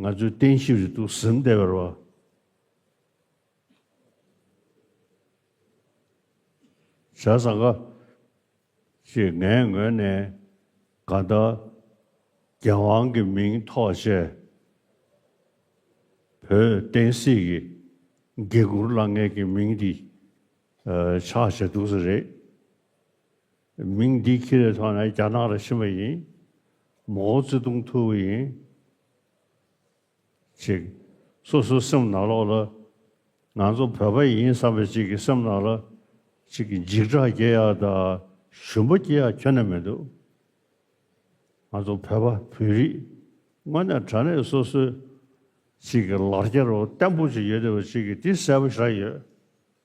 ང་ཚོའི་བསྟན་བཤིག་རེད་འདུག་ཟིན་བསྡད་པར་བ། བྱ་བཟང་ག། ཞེས་ངའི་ངོས་ནས་དགའ་ཟླ་རྒྱལ་དབང་གི་མིང་ཐོག་བཤད། བོད་བསྟན་སྲིད་ཀྱི་དགེ་བསྐུར་བླ་རྔན་གྱི་མིང་འདི་ཆགས་བྱེད་འདུག་ས་རེད། མིང་འདི་ཁྱི་རེད་ཐོག་ན་རྒྱ་ནག་ལ་ཕྱིན་པ་ཡིན། མོའོ་ཙེ་ཏུང་ཐུ་བོ་ཡིན། ཅིག། སོ་སོའི་སེམས་ནང་ལོག་ལ། ང་ཚོ་བོད་པ་ཡིན་བསམ་པའི་ཅིག་གི་སེམས་ནང་ལ། ཅིག་གི་འཇིགས་སྐྲག་སྐྱེ་ཡག་དང་ཞུམ་པ་སྐྱེ་ཡག་ཁྱོན་ན་མི་འདུག། ང་ཚོ་བོད་པ་བོད་རིགས། དངོས་གནས་དྲ་གནས་སོ་སོའི། ཅིག་གི་ལག་ཁྱེར་བོ་བརྟན་པོ་ཅིག་ཡོད་དེ་བ་ཅིག་གི་དེ་གསལ་པོ་ཤར་ཡོད།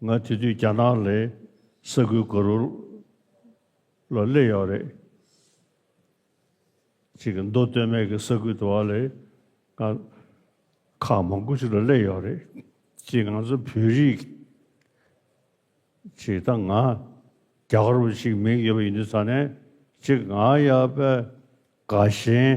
ང་དེ་དུས་རྒྱ་ནག་ལས་ས་ཁུལ་དགུ་རུ་ལ་སླེབས་ཡོད་རེད། གཅིག་གི་མདོ་སྟོད་སྨད་ཀྱི་ས་ཁུལ་དུ་བ་ལས་ང་ཁག་མང་པོ་ཞིག་ལ་སླེབས་ཡོད་རེད། གཅིག་ང་ཚོ་བོད་རིགས་གཅིག་དང་ང་རྒྱ་གར་བ་ཞིག་མིང་ཡོད་པ་ཡིན་དུས་ད་ནས་གཅིག་ང་ཡ་པེ་དགའ་ཞེན།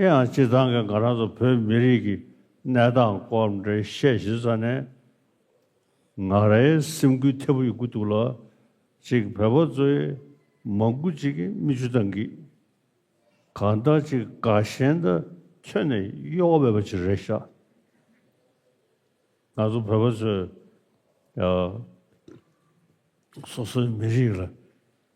ཡིན་ཡང་སྤྱི་ཚང་གི་ང་རང་ཚོ་བོད་མི་རིགས་ཀྱི་གནས་སྟངས་སྐོར་འགྲེལ་བཤད་ཞུས་ས་ནས་ང་རའི་སེམས་འགུལ་ཐེབས་ཡོད་ཀྱི་འདུག་ལ་གཅིག་བོད་པ་ཚོའི་མང་པོ་ཅིག་གིས་མིག་ཆུ་དང་གིས་གང་ལྟར་ཅིག་དགའ་ཞེན་དང་མཚོན་ནས་གཡོ་བ་མེད་པ་ཅིག་རེད་ཤག་ང་ཚོ་བོད་པ་ཚོས་སོ་སོའི་མི་རིགས་ལ།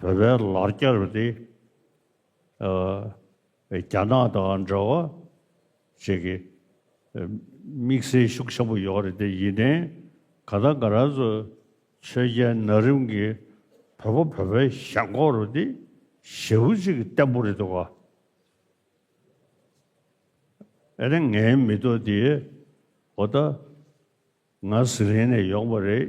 བོད་པའི་ལར་བསྐྱར་བ་དེ་རྒྱ་ནག་དང་འདྲ་བ་ཞིག་གི་དམིགས་བསལ་ཤུགས་ཆེན་པོ་ཡོད་རེད་དེ་ཡིན་ནའི་ག་ད་ག་རང་ཚོ་ཆོས་རྒྱལ་ན་རིམ་གྱི་བོད་པ་བོད་པའི་ཞང་ཁོག་རུ་དེ་ཞེ་བོ་ཅིག་བརྟན་པོ་རེད་དོ། ཨ་ར་ངའི་མི་ཐོ་དེའི་འོ་ད་ང་ཟི་ལིང་ནས་ཡོང་པ་རེད།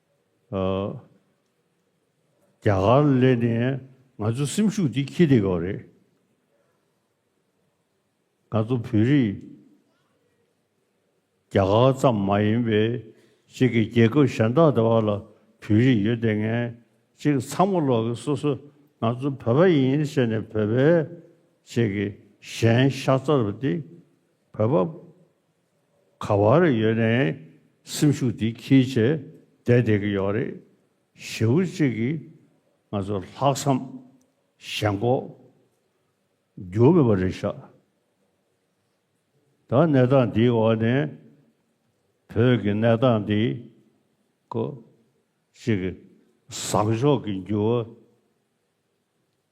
རྒྱ་གར་སླེབས་ནས་ང་ཚོའི་སེམས་ཤུགས་དེ་ཁྱི་དེ་ག་རེད། ང་ཚོ་བོད་རིགས་རྒྱ་གར་ཙམ་མ་ཡིན་པའི་གཅིག་གི་རྒྱལ་ཁབ་གཞན་དག་དེ་བ་ལ་བོད་རིགས་ཡོད་དེ་ངས་གཅིག་ཚང་མ་ལོག་གི་སོ་སོ་ང་ཚོ་བོད་པ་ཡིན་ཞེས་ནས་བོད་པའི་གཅིག་གི་གཞན་ཤ་རྩ་རུ་དེ་བོད་པ། ག་བར་ཡོད་ནས་སེམས་ཤུགས་འདི་ཁྱིལ་བྱས་བསྡད་བསྡད་ཀྱི་ཡོད་རེད། ཞེ་བོ་གཅིག་གིས་ང་ཚོ་ལྷག་བསམ་ཞེན་ལྐོག་གྱུར་མེད་པ་རེད་ཤག་ད་གནས་སྟངས་འདིའི་འོག་ནས་བོད་ཀྱི་གནས་སྟངས་འདི་ཀོ་ཅིག་བཟང་ཕྱོགས་ཀྱི་འགྱུར་བ་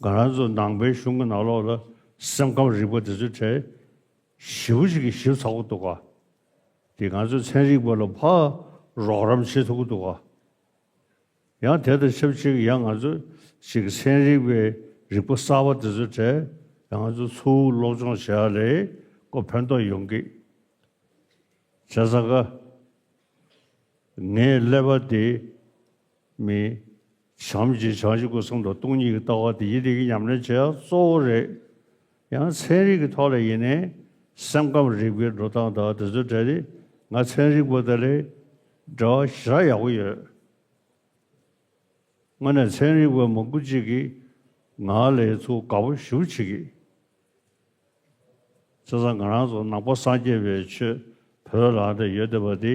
སྒང་རང་ཚོ་ནང་པའི་གཞུང་གི་ནང་ལོགས་ལ་སེམས་ཁམས་རིག་པ་དེ་ཚོའི་གྲས་བཞི་བོ་ཞིག་གིས་ཞིབ་ཚགས་པོ་འདུག་ག་དེ་ང་ཚོའི་ཚན་རིག་པ་ལ་ཕར་རོགས་རམ་བྱེད་ཐུབ་ཀྱི་འདུག་ག་ཡང་དེ་དང་ཆབས་ཅིག་ཡང་ང་ཚོ་ཞིག་གིས་ཚན་རིག་པའི་རིག་པ་གསར་པ་དེ་ཚོའི་གྲས་ཡང་ང་ཚོ་ཚུར་སློབ་སྦྱོང་བྱས་ཡག་ལེ་ཀོ་ཕན་ཐོག་ཡོང་གི་རེད་ས་ག་ངས་ཀླད་པ་དེ་མིན། བྱམས་ཀྱི་བྱང་ཆུབ་སྐུ་གསུམ་དང་སྟོང་ཉིད་ཀྱི་ལྟ་བ་དེ་ཡིད་བདེ་གི་ཉམས་ལེན་བྱེད་ཡག་གཙོ་བོ་རེད། ཡང་ཚན་རིག་གི་ཐོག་ལ་ཡིན་ནའི་སེམས་ཁམས་རིག་པའི་འགྲོ་སྟངས་དང་དེ་ཚོའི་འབྲེལ་ཏེ་ང་ཚན་རིག་པ་དེ་ལས་འབྲེལ་བ་ཞེ་དྲག་ཡག་པོ་ཡོད། དངོས་ནས་ཚན་རིག་པ་མང་པོ་ཅིག་གིས་ང་ལས་ཚུར་དགའ་པོ་ཞུ་བྱེད་ཀྱི། ཚེ་སང་ང་རང་ཚོ་ནང་པ་སངས་རྒྱས་པའི་ཆོས་བོད་ལ་འདི་ཡོད་བསྡད་པ་དེ།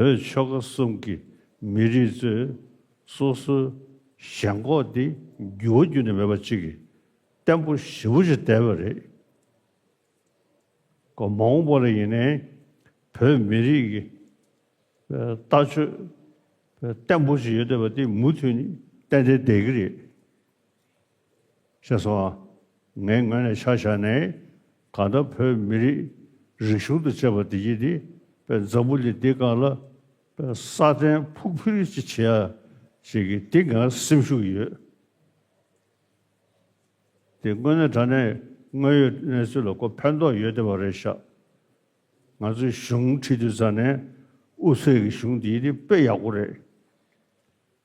བོད་ཆོལ་ཁ་གསུམ་གྱི་མི་རིགས་ཚོས་སོ་སོའི་ཞེན་ཁོག་དེ་འགྱུར་བ་འགྱུར་ནི་མེད་པ་གཅིག་གིས་བརྟན་པོ་ཞིབ་པོ་བྱེད་བསྡད་པ་རེད། སྐབས་མང་བོ་ལ་ཡིན་ནའི་བོད་མི་རིགས་ཀྱི་ལྟ་སྤྱོད་བརྟན་པོ་ཞིག་ཡོད་བསྡད་པ་དེ་མུ་མཐུད་ནས་བརྟན་བསྡད་བསྡད་ཀྱི་རེད། ཞེས་སོ། ངའི་ངོས་ནས་ཆ་བཞག་ནས་གང་ལྟར་བོད་མི་རིགས་རིག་གཞུང་དང་བཅས་པ་བདེ་སྐྱིད་དེ་པའི་འཛམ་བུ་གླིང་འདི་གང་ལ་པའི་ས་གདན་ཕུག་ཕུལ་ཅིག་བྱེད་ཡ་བྱེད་ཀྱི་འདི་ང་སེམས་ཤུགས་ཡོད་དེ་དངོས་གནས་དྲ་གནས་དངོས་ཡོད་གནས་ཚུལ་ལ་ཀོ་ཕན་ཐོག་ཡོད་བསྡད་པ་རེད་ཤག་ང་ཚོའི་གཞུང་ཁྲི་འདུས་ཚང་ནས་དབུ་ཚད་ཀྱི་གཞུང་འདི་དེ་དཔེ་ཡག་པོ་རེད་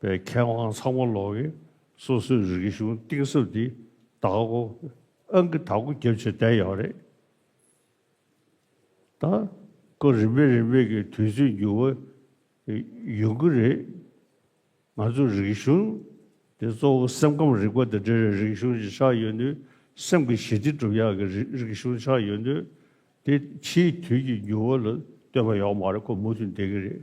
པའི་མཁས་དབང་ཚང་མ་ལོག་གིན་སོ་སོའི་རིག་གཞུང་གཏིང་ཟབ་འདི་དག་གོ་ཨང་གི་དག་གོ་རྒྱབ་བྱེད་བསྡད་ཡོད་རེད་ད། ཀོ་རིམ་པས་རིམ་པས་གི་དུས་ཚོད་འགྱུར་བ་ཡོང་གི་རེད། ང་ཚོ་རིག་གཞུང་འདི་གཙོ་བོ་སེམས་ཁམས་རིག་པ་དང་འབྲེལ་བའི་རིག་གཞུང་ཞིག་ཆགས་ཡོད་དུས་སེམས་ཀྱི་ཞི་བདེ་སྒྲུབ་ཡག་གི་རིག་གཞུང་ཆགས་ཡོད་དུས་དེ་ཕྱིའི་དུས་ཀྱི་འགྱུར་བ་ལ་ལྟོས་པ་ཡོག་མ་རེད་ཁོ་མུ་མཐུད་འདེག་གི་རེད།